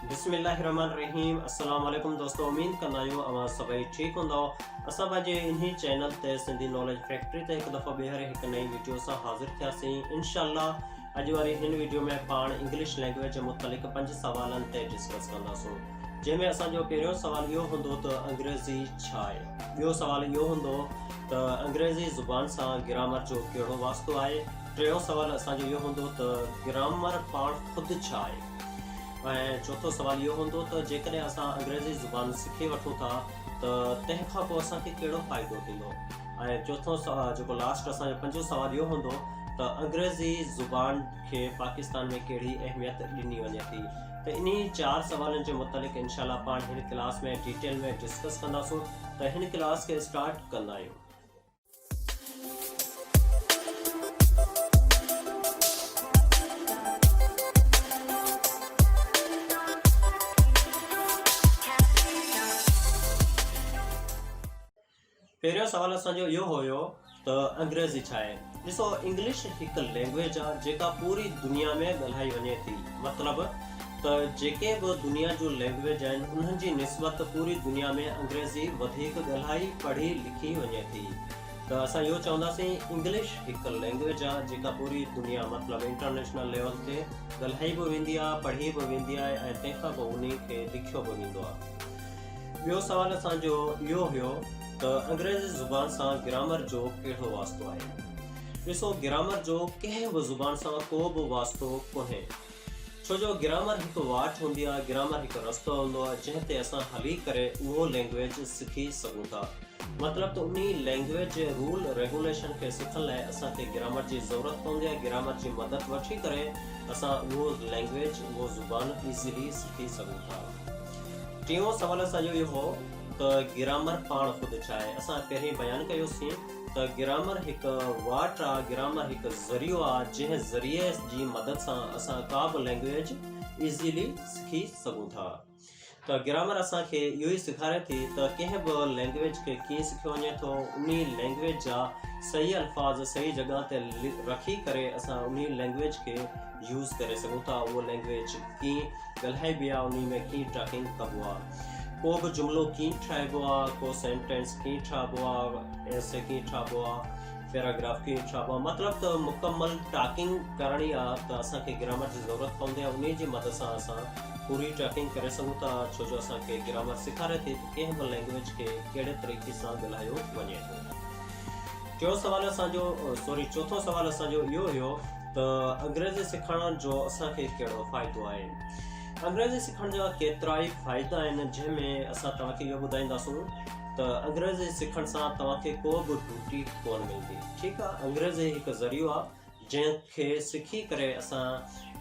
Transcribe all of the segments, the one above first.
بسم الله الرحمٰن الرحيم السلام عليڪم دوستو اميد ڪندا آهيون اوهان سڀئي ٺيڪ هوندؤ اسان پنهنجي انهي چينل تي سنڌي ناليج فيڪٽري تي هڪ دفعو ٻيهر هڪ نئين ويڊيو سان حاضر ٿياسين انشاء الله اڄ واري هن ويڊيو ۾ پاڻ انگلش لينگويج متعلق پنج سوالن تي ڊسڪس ڪنداسون جنهن ۾ اسان جو پهريون سوال اهو هوندو ته انگريزي ڇا آهي ٻيو سوال اهو هوندو ته انگريزي زبان سان گرامر جو ڪهڙو واسطو آهي ٽيون سوال اسان جو اهو هوندو ته گرامر پاڻ خود ڇا آهي؟ ۽ چوٿون سوال اهو هوندو ته جيڪڏهن اسان انگريزي زبان سکي وٺون ٿا ته تنهن کان پوء اسان کي ڪهڙو فائدو ٿيندو؟ ۽ چوٿون سوال جيڪو لاسٽ اسان جو پنجون سوال اهو هوندو ته انگريزي زبان کي پاڪستان ۾ ڪهڙي اهميت ڏني وڃي ٿي؟ ته انهي چار سوالن جي متعلق انشاء الله پاڻ هن ڪلاس ۾ ڊيٽيل ۾ ڊسڪس ڪنداسون ته هن ڪلاس کي اسٽارٽ ڪندا آهيون. پهريون سوال اسان جو اهو هيو ته انگريزي ڇا آهي؟ ڏسو انگلش هڪ لينگويج آهي جيڪا پوري دنيا ۾ ڳالهائي وڃي ٿي مطلب ته جيڪي به دنيا جون لينگويج آهن انهن جي نسبت پوري دنيا ۾ انگريزي وڌيڪ ڳالهائي پڙهي لکي وڃي ٿي ته اسان اهو چونداسين انگلش هڪ لينگويج آهي جيڪا پوري دنيا مطلب انٽرنيشنل ليول تي ڳالهائي به ويندي آهي پڙهي به ويندي آهي ۽ تنهن کان پوء انهي کي لکيو به ويندو آهي ٻيو سوال اسان جو اهو هيو ته انگريزي زبان سان گرامر جو ڪهڙو واسطو آهي ڏسو گرامر جو ڪنهن به زبان سان ڪو به واسطو ڪونهي ڇو جو گرامر هڪ واٽ هوندي آهي، گرامر هڪ رستو هوندو آهي جنهن تي اسان هلي ڪري اهو لينگويج سکي سگهون ٿا. مطلب ته انهي لينگويج جي رول ريگوليشن کي سکڻ لاء اسان کي گرامر جي ضرورت پوندي آهي، گرامر جي مدد وٺي ڪري اسان اهو لينگويج اهو زبان ايزلي سکي سگهون ٿا. ٽيون سوال اسان جو اهو هو ته گرامر پاڻ خود ڇا آهي؟ اسان پهرين بيان ڪيوسين. ته گرامر هڪ واٽ آ، گرامر هڪ ذريعو آ جنهن ذريعي جي مدد سان اسان ڪا به لينگويج ايزيلي سکي سگهون ٿا ته گرامر اسان کي اهو ئي سيکاري ٿي ته ڪنهن به لينگويج کي ڪيئن سکيو وڃي ٿو انهي لينگويج جا صحيح الفاظ صحيح جڳهه تي رکي ڪري اسان انهي لينگويج کي يوز ڪري سگهون ٿا اهو لينگويج ڪيئن ڳالهائبي آ انهي ۾ ڪيئن ٽاڪنگ ڪبو آ. ڪو به جملو ڪيئن ٺاهبو آ، ڪو سينٽينس ڪيئن ٺاهبو آ، ايسي ڪيئن ٺاهبو آ، پيراگراف ڪيئن ٺاهبو آ، مطلب ته مڪمل ٽاڪنگ ڪرڻي آ ته اسان کي گرامر جي ضرورت پوندي آ، انهيء جي مدد سان اسان پوري ٽاڪنگ ڪري سگهون ٿا، ڇو جو اسان کي گرامر سيکاري ٿي ته ڪنهن به لينگويج کي ڪهڙي طريقي سان ڳالهايو وڃي ٿو. ٽيون سوال اسان جو سوري چوٿون سوال اسان جو اهو هيو ته انگريزي سيکارڻ جو اسان کي ڪهڙو فائدو آهي. انگريزي سکڻ جا ڪيترائي فائدا آهن جنهن ۾ اسان توهان کي اهو ٻڌائينداسون ته انگريزي سکڻ سان توهان کي ڪو به ڊوٽي ڪون ملندي ٺيڪ آهي انگريزي هڪ ذريعو آهي جنهن کي سکي ڪري اسان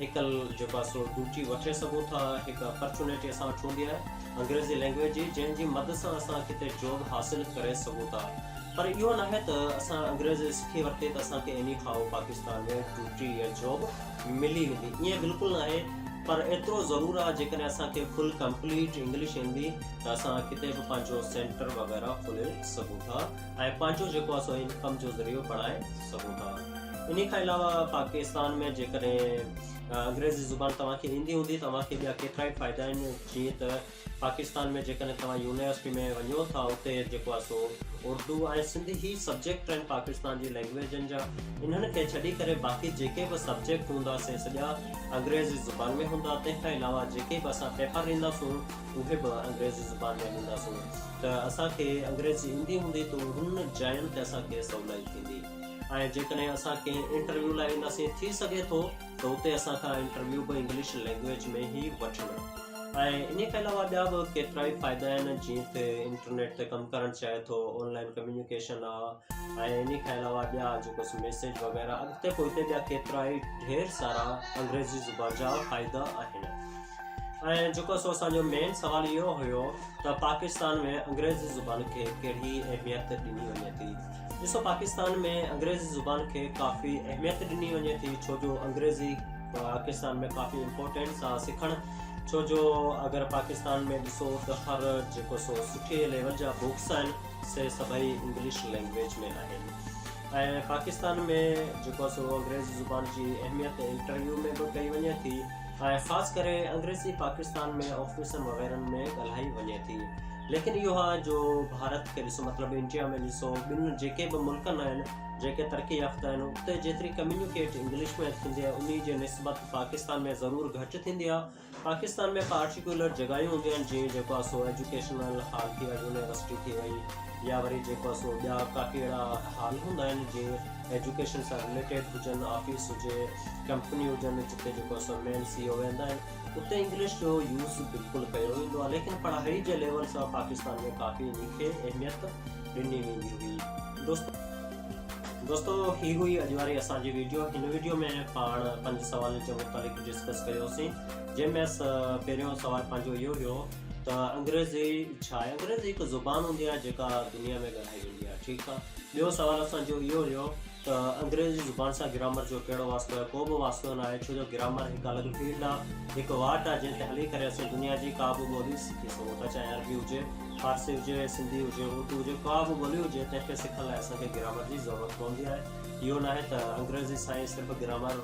هڪ جيڪو آهي سو ڊوٽي وٺي سگهون ٿا هڪ اپرچونيٽي اسان وٽ هوندي آهي انگريزي لينگويج جي جنهن جي مدد سان اسان ڪٿي جاب حاصل ڪري سگهون ٿا پر اهو ناهي ته اسان انگريزي سکي ورتي ته اسان کي ايني هائو پاڪستان ۾ ڊوٽي يا جاب ملي ويندي ائين بلڪل ناهي پر ايترو ضرور آ جيڪڏهن اسان کي فل ڪمپليٽ انگلش ايندي ته اسان ڪٿي به پنهنجو سينٽر وغيره کولي سگهون ٿا ۽ پنهنجو جيڪو آ سو انڪم جو ذريعو بڻائي سگهون ٿا انهي کان علاوه پاڪستان ۾ جيڪڏهن انگريزي زبان توهان کي ايندي هوندي توهان کي ٻيا ڪيترا ئي فائدا آهن جيئن ته پاڪستان ۾ جيڪڏهن توهان يونيورسٽي ۾ وڃو ٿا اتي جيڪو آهي سو اردو ۽ سنڌي هي سبجيڪٽ آهن پاڪستان جي لينگويجن جا انهن کي ڇڏي ڪري باقي جيڪي به سبجيڪٽ هوندا سي سڄا انگريزي زبان ۾ هوندا تنهن کان علاوه جيڪي به اسان پيپر ڏيندا سون اهي به انگريزي زبان ۾ ڏيندا سون ته اسان کي انگريزي ايندي هوندي ته انهن جاين تي اسان کي سولائي ٿيندي ۽ جيڪڏهن اسان ڪنهن انٽرويو لاء وينداسين ٿي سگهي ٿو ته اتي اسان کان انٽرويو به انگلش لينگويج ۾ ئي وٺن ۽ ان کان علاوه ٻيا به ڪيترائي فائدا آهن جيئن ته انٽرنيٽ تي ڪم ڪرڻ چاهي ٿو آن لائن ڪميونيڪيشن آ ۽ ان کان علاوه ٻيا جيڪو سو ميسيج وغيره اڳتي پوئتي ٻيا ڪيترائي ڍير سارا انگريزي زبان جا فائدا آهن ۽ جيڪو سو اسان جو مين سوال اهو هيو ته پاڪستان ۾ انگريزي زبان کي ڪهڙي اهميت ڏني وڃي ٿي. ڏسو پاڪستان ۾ انگريزي زبان کي ڪافي اهميت ڏني وڃي ٿي ڇو جو انگريزي پاڪستان ۾ ڪافي امپورٽينٽس آ سکڻ ڇو جو اگر پاڪستان ۾ ڏسو ته هر جيڪو سو سٺي ليول جا بوڪس آهن سي سڀئي انگلش لينگويج ۾ آهن ۽ پاڪستان ۾ جيڪو سو انگريزي زبان جي اهميت انٽرويو ۾ به ڪئي وڃي ٿي ۽ خاص ڪري انگريزي پاڪستان ۾ آفيسن وغيرن ۾ ڳالهائي وڃي ٿي ليڪن اهو آهي جو ڀارت کي ڏسو مطلب انڊيا ۾ ڏسو ٻن جيڪي به ملڪن آهن جيڪي ترقي يافته آهن اتي جيتري ڪميونيڪيٽ انگلش ۾ ٿيندي آهي انهي جي نسبت پاڪستان ۾ ضرور گهٽ ٿيندي آهي پاڪستان ۾ پارٽيڪولر جڳهيون هونديون آهن جيئن جيڪو آهي سو ايجوڪيشنل هال ٿي ويا يونيورسٽي ٿي وئي يا وري جيڪو آهي سو ٻيا ڪافي اهڙا هال هوندا آهن جيئن ايجوڪيشن سان رليٽيڊ هجن، آفيس هجي، ڪمپني هجن جتي جيڪو اسان مين سي او ويهندا آهن اتي انگلش جو يوز بلڪل ڪيو ويندو آهي ليڪن پڙهائي جي ليول سان پاڪستان ۾ ڪافي انهي کي اهميت ڏني ويندي هئي دوستو دوستو هي هئي اڄ واري اسان جي ويڊيو هن ويڊيو ۾ پاڻ پنج سوال جي متعلق ڊسڪس ڪيوسين جنهن ۾ پهريون سوال پنهنجو اهو هيو ته انگريزي ڇا آهي انگريزي هڪ زبان هوندي آهي جيڪا دنيا ۾ ويندي آهي ٺيڪ آ ٻيو سوال اسان جو اهو هيو ته انگريزي زبان سان گرامر جو ڪهڙو واسطو آهي ڪو به واسطو ناهي ڇو جو گرامر هڪ الڳ فيلڊ آ هڪ واٽ آ جنهن تي هلي ڪري اسين دنيا جي ڪا به ٻولي سکي سگهون ٿا چاهي عربي هجي فارسي هجي سنڌي هجي اردو هجي ڪا به ٻولي هجي تنهن کي سکڻ لاء اسان کي گرامر جي ضرورت پوندي آهي اهو ناهي ته انگريزي سان ئي صرف گرامر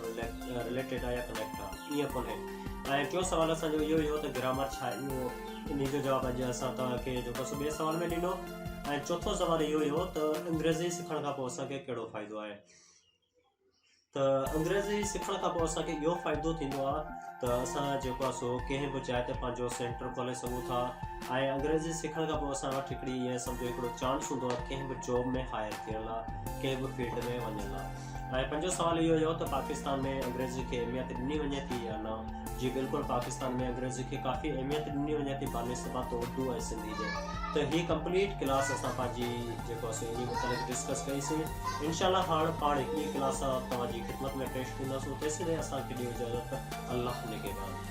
رليٽيڊ آ يا ڪنيڪٽ آ ائين ڪونهي ۽ ٽيون سوال اسان جو اهو هيو ته گرامر ڇا اهو انهي جو جواب اڄ اسان توهان کي جيڪو سو ٻئي سوال ۾ ڏنو. ۽ چوٿون سوال اهو هيو ته انگريزي سکڻ کان پوء اسان کي ڪهڙو فائدو آهي ته انگريزي سکڻ کان پوء اسان کي اهو فائدو ٿيندو آهي ته اسان جيڪو آهي سو ڪنهن به جاء تي پنهنجو سينٽر کولي سگهون ٿا ۽ انگريزي سکڻ کان پوء اسان وٽ هڪڙي ائين سمجهو هڪڙو چانس هوندو آهي ڪنهن به جاب ۾ هائر ٿيڻ لاء ڪنهن به فيلڊ ۾ وڃڻ لاء ۽ پنجون سوال اهو هيو ته پاڪستان ۾ انگريزي کي اهميت ڏني وڃي ٿي يا نه؟ جي بلڪل پاڪستان ۾ انگريزي کي ڪافي اهميت ڏني وڃي ٿي بانسبت اردو ۽ سنڌي جي ته هي ڪمپليٽ ڪلاس اسان پنهنجي جيڪو اسين انهي متعلق ڊسڪس ڪئي سي انشاء الله هاڻ پاڻ هڪ ٻي ڪلاس توهان جي خدمت ۾ پيش ٿينداسون تيسين تائين اسان کي ڏيو اجازت الله نگهبان.